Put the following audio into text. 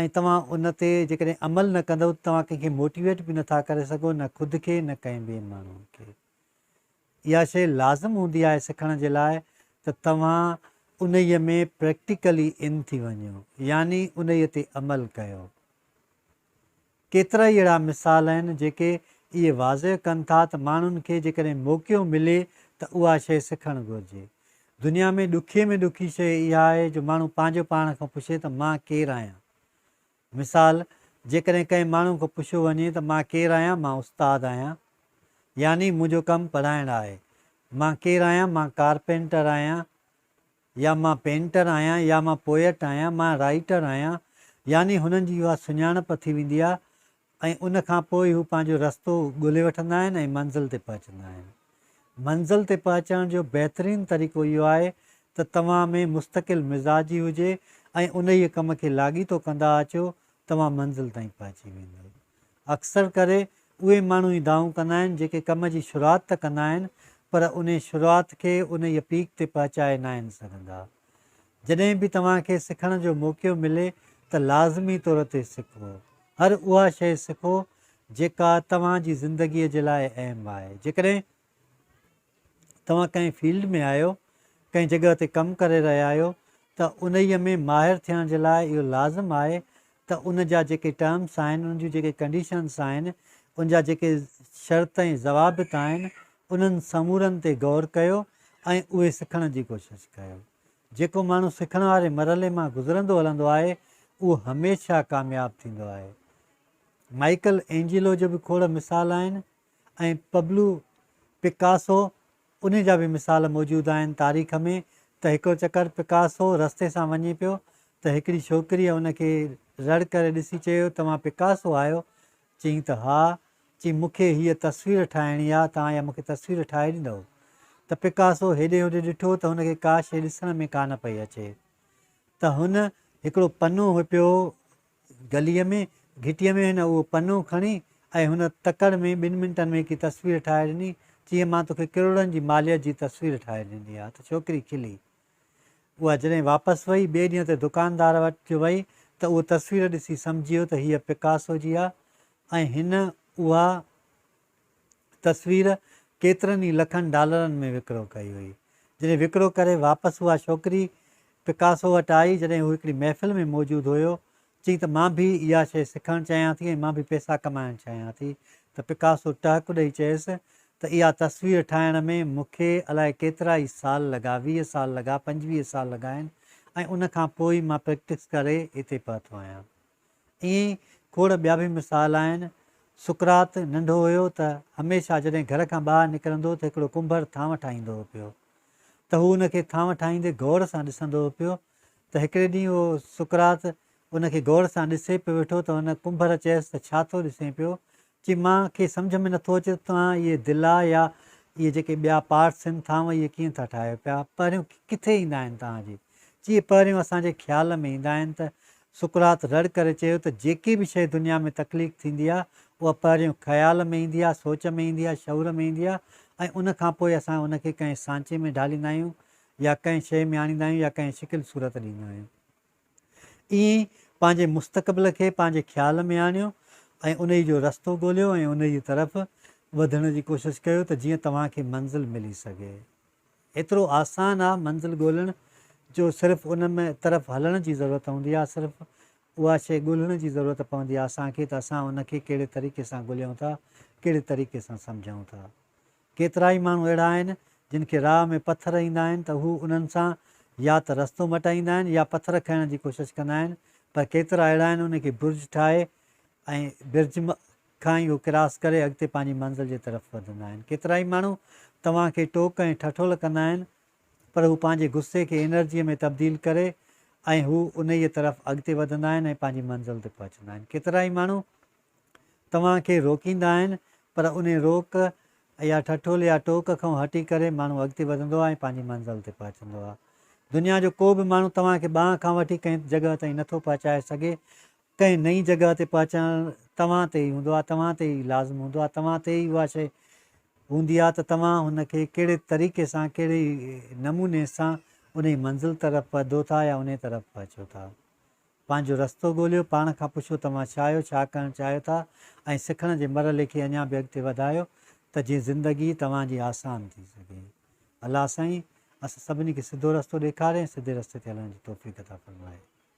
۽ توهان ان تي جيڪڏهن عمل نه ڪندؤ ته توهان ڪنهن کي موٽيويٽ به نه ٿا ڪري سگهو نه خود کي نه ڪنهن ٻئي ماڻهو کي. اها شيء لازم هوندي آهي سکڻ جي لاء ته توهان انهيء ۾ پريڪٽيڪلي ان ٿي وڃو يعني انهيء تي عمل ڪيو. ڪيترائي اهڙا مثال آهن جيڪي اهي واضح ڪن ٿا ته ماڻهن کي جيڪڏهن موقعو ملي ته اها شيء سکڻ گهرجي. دنيا ۾ ڏکي ۾ ڏکي شيء اها آهي جو ماڻهو پنهنجو پاڻ کان پڇي ته مان ڪير آهيان؟ مثال، جيڪڏهن ڪنهن ماڻهو کان پڇيو وڃي ته مان ڪير آهيان؟ مان استاد آهيان. يعني منهنجو ڪم پڙهائڻ آهي. مان ڪير آهيان؟ مان ڪارپينٽر آهيان. يا مان پينٽر آهيان يا مان پوئٽ آهيان، مان رائيٽر آهيان، يعني هنن جي اها سڃاڻپ ٿي ويندي آهي ۽ ان کان پوء هو پنهنجو رستو ڳولي وٺندا آهن ۽ منزل تي پهچندا آهن. منزل تي پهچڻ جو بهترين طريقو اهو آهي ته توهان ۾ مستقل مزاجي هجي ۽ انهيء ڪم کي لاڳيتو ڪندا اچو توهان منزل تائين پهچي ويندؤ. اڪثر ڪري اهي ماڻهو ئي دانهون ڪندا آهن جيڪي ڪم جي شروعات ته ڪندا آهن پر انهي شروعات کي انهيء پيڪ تي پهچائي ناهن سگهندا. جڏهن به توهان کي سکڻ جو موقعو ملي ته لازمي طور تي سکو. هر اها شيء سکو جيڪا توهان جي زندگيء جي لاء اهم آهي. جيڪڏهن توهان ڪنهن فيلڊ ۾ آهيو، ڪنهن جڳهه تي ڪم ڪري رهيا آهيو ته انهيء ۾ ماهر ٿيڻ جي لاء اهو لازم آهي ته ان جا جيڪي ٽرمس آهن، ان جون جيڪي ڪنڊيشنس آهن، ان جا جيڪي شرط ۽ ضوابط آهن، انهن سمورن تي غور ڪيو ۽ اهي سکڻ جي ڪوشش ڪيو. جيڪو ماڻهو سکڻ واري مرحلي مان گذرندو هلندو آهي، اهو هميشه ڪامياب ٿيندو آهي. مائيڪل اينجيلو جو به کوڙ مثال آهن، ۽ پبلو پڪاسو انهي جا به مثال موجود آهن تاريخ ۾ ته هڪڙو چڪر پڪاسو رستي سان وڃي پيو ته هڪڙي ڇوڪريء ان کي رڙ ڪري ڏسي چيو توهان پڪاسو آهيو؟ چيائين ته ها، چيائين مون کي هيء تصوير ٺاهڻي آ توهان اها مون کي تصوير ٺاهي ڏيندؤ؟ ته پڪاسو هيڏي هوڏي ڏٺو ته هن کي ڪا شيء ڏسڻ ۾ ڪانه پئي اچي ته هن هڪڙو پنو هپيو گليء ۾ گهٽيء ۾ هن اهو پنو کڻي ۽ هن تڪڙ ۾ ٻن منٽن ۾ هڪڙي تصوير ٺاهي ڏني، چيائين مان توکي ڪروڙن جي ماليت جي تصوير ٺاهي ڏني آهي ته ڇوڪري کلي. اها جڏهن واپس وئي، ٻئي ڏينهن تي دڪاندار وٽ جو وئي ته اهو تصوير ڏسي سمجهي ويو ته هيء پڪاسو جي آهي ۽ هن اها تصوير ڪيترن ئي لکن ڊالرن ۾ وڪرو ڪئي وئي. جڏهن وڪرو ڪري واپس اها ڇوڪري پڪاسو وٽ آئي، جڏهن هو هڪڙي محفل ۾ موجود هيو، چيائين ته مان به اها شيء سکڻ چاهيان ٿي ۽ مان به پئسا ڪمائڻ چاهيان ٿي ته پڪاسو ٽهڪ ڏئي چيس ته اها تصوير ٺاهڻ ۾ مون کي الائي ڪيترا ئي سال لڳا، ويهه سال لڳا، پنجويهه سال لڳا آهن ۽ ان کان پوء ئي مان پريڪٽس ڪري هتي پهتو آهيان. ائين ئي کوڙ ٻيا به مثال آهن. سقراط ننڍو هيو ته هميشه جڏهن گهر کان ٻاهر نڪرندو ته هڪڙو ڪنڀر ٿانو ٺاهيندو هو پيو ته هو ان کي ٿانو ٺاهيندي غور سان ڏسندو هو پيو ته هڪڙي ڏينهن اهو سقراط ان کي غور سان ڏسي پيو ويٺو ته ان ڪنڀر چيس ته ڇا ٿو ڏسين پيو چي مان کي سمجهه ۾ نٿو اچي ته توهان اهي دلا يا اهي جيڪي ٻيا پارٽس هن ٿانو اهي ڪيئن ٿا ٺاهيو پيا پهريون ڪٿي ايندا آهن توهان جي چي پهريون اسان جي خيال ۾ ايندا آهن ته سقراط رڙ ڪري چيو ته جيڪي به شيء دنيا ۾ تخليق ٿيندي آهي اها پهريون خيال ۾ ايندي آهي سوچ ۾ ايندي آهي شعور ۾ ايندي آهي ۽ ان کان پوء اسان ان کي ڪنهن سانچي ۾ ڍاليندا آهيون يا ڪنهن شيء ۾ آڻيندا آهيون يا ڪنهن شڪل صورت ڏيندا آهيون. ائين پنهنجي مستقبل کي پنهنجي خيال ۾ آڻيو ۽ انهي جو رستو ڳوليو ۽ انهي جي طرف وڌڻ جي ڪوشش ڪيو ته جيئن توهان کي منزل ملي سگهي. ايترو آسان آ منزل ڳولڻ جو صرف ان ۾ طرف هلڻ جي ضرورت هوندي آ صرف اها شئي ڳولڻ جي ضرورت پوندي آ اسان کي ته اسان ان کي ڪهڙي طريقي سان ڳوليون ٿا ڪهڙي طريقي سان سمجهون ٿا. ڪيترائي ماڻهو اهڙا آهن، جن کي راهه ۾ پٿر ايندا آهن ته هو انهن سان يا ته رستو مٽائيندا آهن يا پٿر کنئڻ جي ڪوشش ڪندا آهن، پر ڪيترا اهڙا آهن ان کي برج ٺاهي ۽ برج کان ئي اهو ڪراس ڪري اڳتي پنهنجي منزل جي طرف وڌندا آهن. ڪيترائي ماڻهو توهان کي ٽوڪ ۽ ٺٺول ڪندا آهن، پر هو پنهنجي غصي کي انرجيء ۾ تبديل ڪري ۽ هو انهيء طرف اڳتي وڌندا آهن ۽ پنهنجي منزل تي پهچندا آهن. ڪيترائي ماڻهو. توهان کي روڪيندا آهن پر انهي روڪ يا ٺٺول يا ٽوڪ کئون هٽي ڪري ماڻهو اڳتي وڌندو آهي ۽ پنهنجي منزل تي پهچندو آهي. دنيا جو ڪو به ماڻهو توهان کي ٻانهن کان وٺي ڪنهن جڳهه تائين نٿو پهچائي سگهي. ڪنهن نئين جڳهه تي پهچڻ توهان تي ئي هوندو آهي، توهان تي ئي لازم هوندو آهي، توهان تي ئي اها شيء هوندي آهي ته توهان هن کي ڪهڙي طريقي سان ڪهڙي نموني سان انهي منزل طرف پهدو ٿا يا انهي طرف پهچو ٿا. پنهنجو رستو ڳوليو، پاڻ کان پڇو توهان ڇا آهيو، ڇا ڪرڻ چاهيو ٿا ۽ سکڻ جي مرحلي کي اڃا به اڳتي وڌايو ته جيئن زندگي توهان جي آسان ٿي سگهي. الله سائين اسان سڀني کي سڌو رستو ڏيکاري ۽ سڌي رستي تي هلڻ جي توفيق عطا فرمائي.